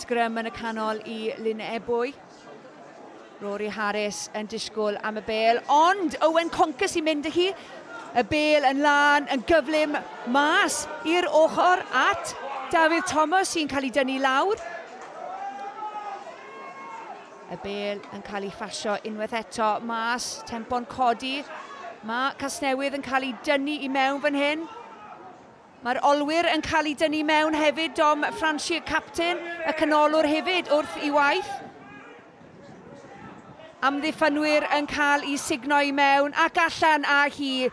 Sgrym yn y canol i Lyn Ebwy. Rory Harris yn disgwyl am y bel, ond Owen Conker sy'n mynd â hi. Y bel yn lân, yn gyflym, mas i'r ochr at Dafydd Thomas sy'n cael ei dynnu lawr. Y bel yn cael ei phasio unwaith eto mas, tempo'n codi. Mae Casnewydd yn cael ei dynnu i mewn fan hyn. Mae'r olwyr yn cael eu dynnu mewn hefyd, Dom Franshir capten y canolwr hefyd wrth i waith amddiffynwyr yn cael i sugno i mewn ac allan â hi.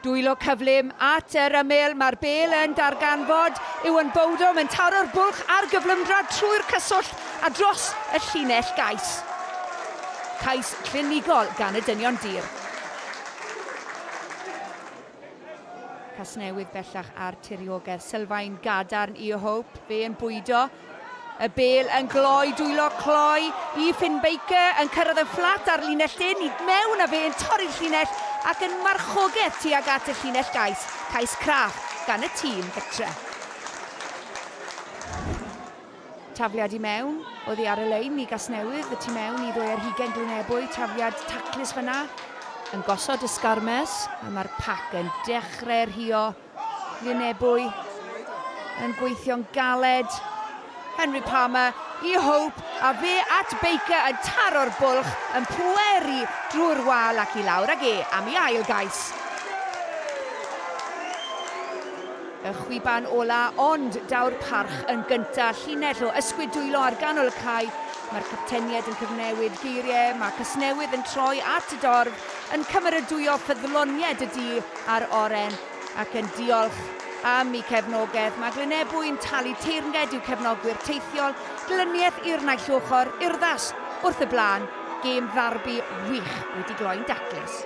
Dwylo cyflym at yr ymyl, mae'r bel yn darganfod, Iwan Bowdom yn taro'r bwlch ar gyflymdra trwy'r cyswllt a dros y llinell gais. Cais clinigol gan y dynion dur. Casnewydd bellach ar tiriogaeth sylfaen gadarn i Hope, fe yn bwydo y bel yn gloi, dwylo cloi i Finn Baker yn cyrraedd yn fflat ar linell dyn i mewn a fe yn torri'r llinell ac yn marchogaeth tuag at y llinell gais, cais craff gan y tîm gytre. Tafliad i mewn, oddi ar y lein i Gasnewydd, y tu mewn i ddwy ar hugain Glynebwy, tafliad taclus fyna. Yn gosod y sgarmes, a mae'r pac yn dechrau rhio. Glynebwy yn gweithio'n galed. Henry Palmer i Hope, a fe at Baker yn taro'r bwlch, yn pweru drwy'r wal ac i lawr ag e am i ail gais. Y chwiban ola, ond daw'r parch yn gynta'. Llinell o ysgwyd dwylo ar ganol y cae. Mae'r captenied yn cyfnewid geiriau, mae Casnewydd yn troi at y dorf, yn cymeradwyo ffyddlonied y du a'r oren, ac yn diolch am eu cefnogaeth. Mae Glynebwy'n talu teyrnged i'w cefnogwyr teithiol, glyniaeth i'r naill ochr, urddas wrth y blaen, gêm ddarbi wych wedi gloi'n daclus.